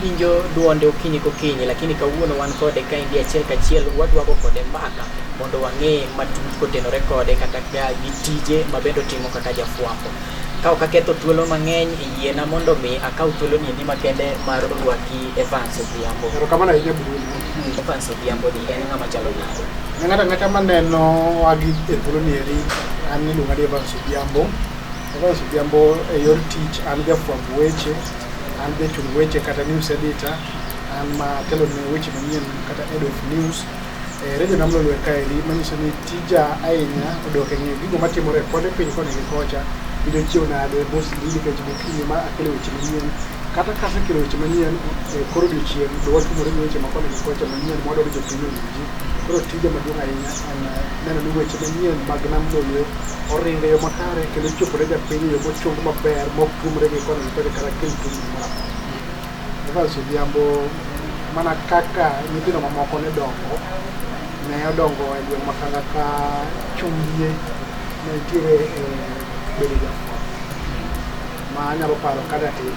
winjo duonde okinyi kokinyi lakini kawuono wan kode ka endi achiel kachiel wadwago kode mbaka mondo wang'e matut kotenore kode kata gi tije mabende otimo kaka jafwambo ka ok aketho thuolo mang'eny e yiena mondo mi akaw thuolo ni endi makende mar rwaki Evans Odhiambo. Erokamano ahinya Bruno. Evans Odhiambo ni en ng'ama chalo nade? Ng'ato ang'ata maneno wagi e thuolo ni eri an iluonga ni Evans Odhiambo. Evans Odhiambo e yor tich an jafwamb weche, an jachung weche kata news editor, an ma telo ne weche manyien kata head of news e eh, redio namlolwe kaeri manyiso ni tija ahinya odok e ng'eyo gigo matimore kode piny koni gi kocha gido chiew nade mos nikech gokinyi ma akelo weche manyien Kata ka asekelo weche manyien e kor odiechieng', to watumore gi weche makoni gi kocha manyien ma wadwaro ni jopiny owinji. Koro tija maduong' ahinya en neno ni weche manyien mag Nam Lolwe oringo e yo makare kendo chopore japiny e yo mochung maber ma ok tuomre gi koni gi kocha kata kel tungni moro amora. Evans Odhiambo, mana kaka nyithindo mamoko ne dongo, ne odongo e gweng' ma kanga ka chunye ne nitiere e bedo jafwambo. Ma anyalo paro ka datin,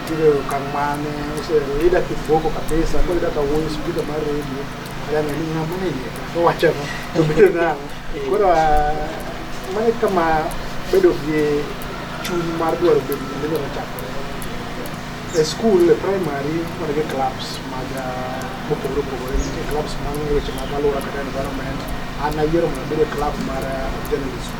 nitiere okang' mane oseero ida kiboko kabisa, koro ida ka wuoyo spika mar redio, ayang'e ni ng'ama ne iye ka, owacho ang'o, to bedo nang'o. Koro ah, mano e kama bedo gi chuny mar dwaro bedo gima inyalo chakore. E skul, e primary, wan gi clubs mag ah, mopogore opogore, nitie clubs mag weche mag alwora kata environment. An nayiero mondo abed e club mar ah, journalism.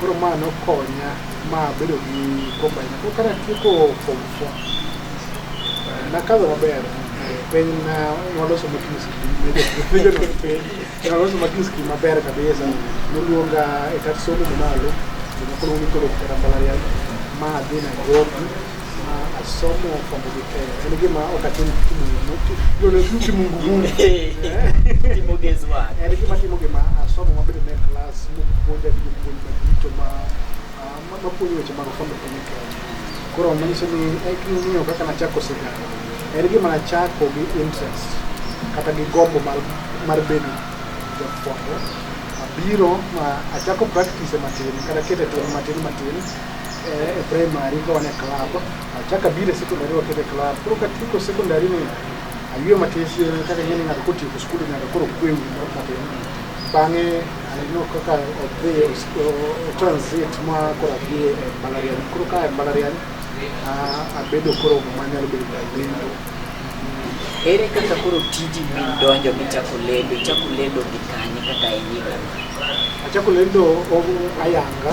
Koro ma nokonya ma abedo gi combine. Koro kane atieko form four, eh, nakadho maber eh, piny na nwaloso matus nwaloso matus ki maber kabisa noluonga e kat somo mamalo jomoko noluongi koro kata mbalariany ma adhi Nairobi somo fwambo gi keyo en gima ok atim timo mungu timo gezi wa en gima timo gima asomo mabedo ne klas mopuonja gi jopuonj madito ma mapuonjo weche mag fwambo gi keyo koro manyiso ni ng'iyo kaka nachako sigana en gima nachako gi interest kata gi gombo mar mar bedo jafwambo abiro ma achako practice matin kata kete tong matin matin eh, e primary ka wane club achaka bile secondary wakete club koro ka tuko secondary ni aywe matesi kaka yene ng'ato kotieko skul ng'ato koro kwewi moro matin bang'e aneno kaka odhi transit ma koro adhi e mbalariany koro ka e mbalariany abedo koro manyalo bedo jalendo ere kaka koro tiji min donjo michako lendo ichako lendo gi kanye kaka e nyigano achako lendo ayanga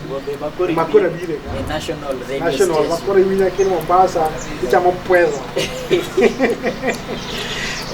Gombe Makori Makura Beat, bile ka. the national radio National station. bakore wina kini Mombasa ichamo pwezo.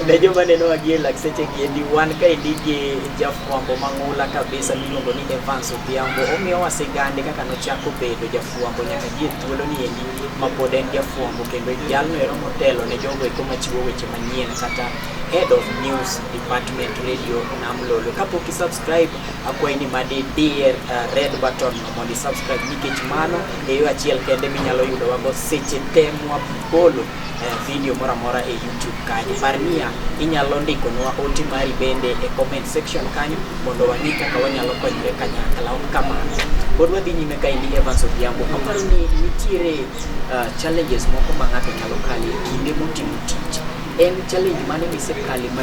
Unajua maneno wagie lakseche giendi wan ka indigi jafwambo mang'ula kabisa miluongo ni Evans Odhiambo omiyo wasigande kaka nochako bedo jafwambo nyaka gie thuolo ni endi ma pod en jafwambo kendo jalno ero motelo ne jogo eko machiwo weche manyien kata head of news department radio nam lolo kapok isubscribe akwayi ni madi dier uh, red button mondo subscribe nikech mano e yo achiel kende minyalo yudo wago seche te mwabolo uh, video moro amora e YouTube kanyo. Par niya inyalo ndiko nwa ote mari bende e comment section kanyo mondo wang'e kaka wanyalo konyore kanyakla kamano. Pod wadhi nyime ka endi Evans Odhiambo, aparo ni nitiere uh, challenges moko ma ng'ato nyalo kale kinde motimo tich en challenge mane misekale ma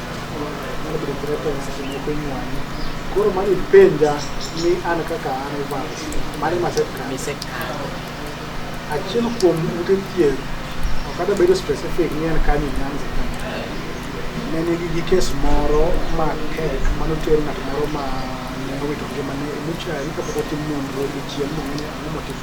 Koro mani penja ni an kaka an Evans, mani masekalo. Misekalo. Achiel kuom ute thieth, ok kata bedo specific ni en kanye Nyanza ka. Ne nigi gi kes moro ma tek mane oter ng'at moro ma ne owito ngimane e muchari kapok otim nonro gi chieng' mong'e ni ang'o motimo.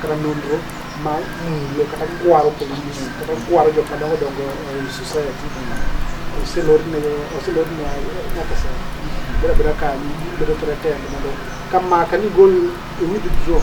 kata nonro ma mulo kata kwaro police kata kwaro jok madongo dongo e society oselorne oselorne nyaka sa beda beda kanyo bedo threatened mondo ka maka ni gol e withdraw